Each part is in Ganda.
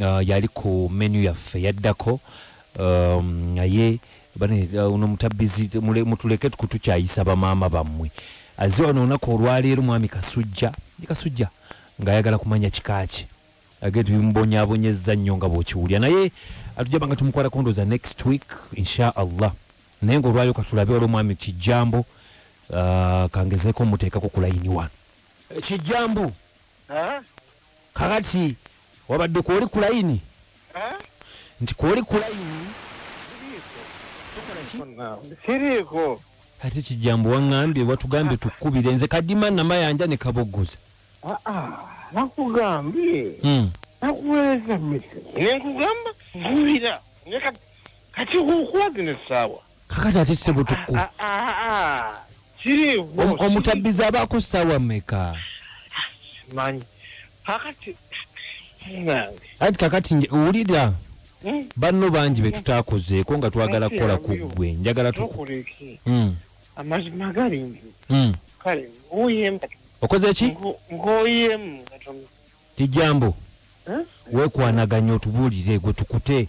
uh, yali ku menu yaffe yaddako um, naye uh, uno mutabizi mutuleke kutukyayisa bamaama bammwe aze wano olunaku olwaleero mwami kasujja ni kasujja ng'ayagala kumanya kikaaki age tubimubonyabonyezza nnyo nga bwokiwulya naye atujaba nga tumukwala kondoza next week insha allah naye ngaolwaliro katulabe wali omwami kijjambo uh, kangezeko muteekako kulayini wano eh, kijjambo kakati wabadde kwoli ku layini nti kwoli ku layini siriiko ate kijambo waŋŋambye watugambye tukubire nze kadima namayanja ne kaboggoza ah, ah, nakugambye hmm. nakuweereza mmese nenkugamba kubira kati okuwaga ne ssaawa kakati ate kisebutuku ah, ah, ah, omutabbizi aba ku ssaawa meka manyi kakati anti kakati wulira hmm? banno bangi betutakozeeko nga twagala kukola ku ggwe njagala tukuleke hmm. amazima gali nti hmm. kale ngoyemu okoze ki ngoyemu kijambo wekwanaganya otubuulire gwe tukute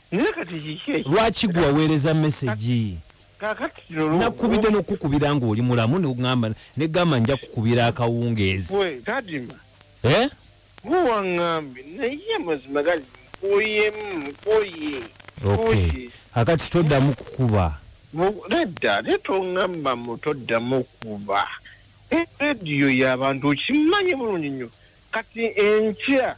naye kati kiki ekyo lwaki gwe waweereza mesegi kakati kino lwo- nakubidde n'okukubira ng'oli mulamu nogamba negamba nja kukubira akawungeezi gwe kadima Eh? gwe waŋŋambye naye amazima gali nkoyemu nkoye okay kakati toddamu kukuba Mu- nedda naye toŋŋamba mu toddamu kuba Eh, rediyo y'abantu okimanyi bulungi nnyo kati enkya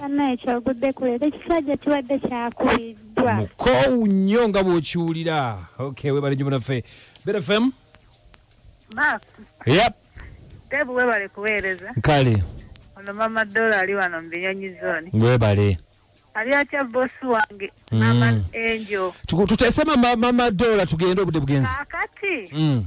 banaye kyogudde ku leero ekisajja kibadde kyakubiddwa mukoowu nnyo nga bw'okiwulira ok webale nyo munaffe bfm yep tebu webale kuweereza kale ono mama dola ali wano mu binyonyi zoni webale ali atya bosi wange mm. mama angel tutese mama dola tugende obude bugenzi akati mm.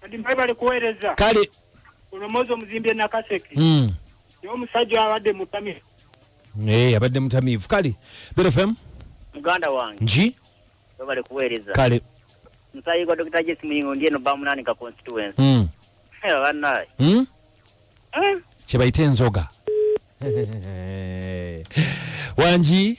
kati mwebale kuweereza kale ono mozi omuzimbi e nakaseke mm. naye omusajja abadde mutamivu hey, eh, abadde mutamivu kale berefem muganda wange nji webale kuweereza kale musayi gwa dokita jesi muyingo ndi eno bamunani ka constituency mm. hey, banaye mm? eh? kyebayita enzoga wangi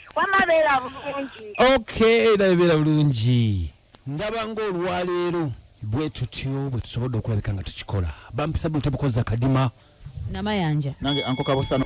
wama beera bulungi okay naye beera bulungi ndaba ng'olwaleero bwe tutyo bwe tusobodde okulabika nga tukikola bampisa buno tebukozza kadima namayanja nange ankoka busano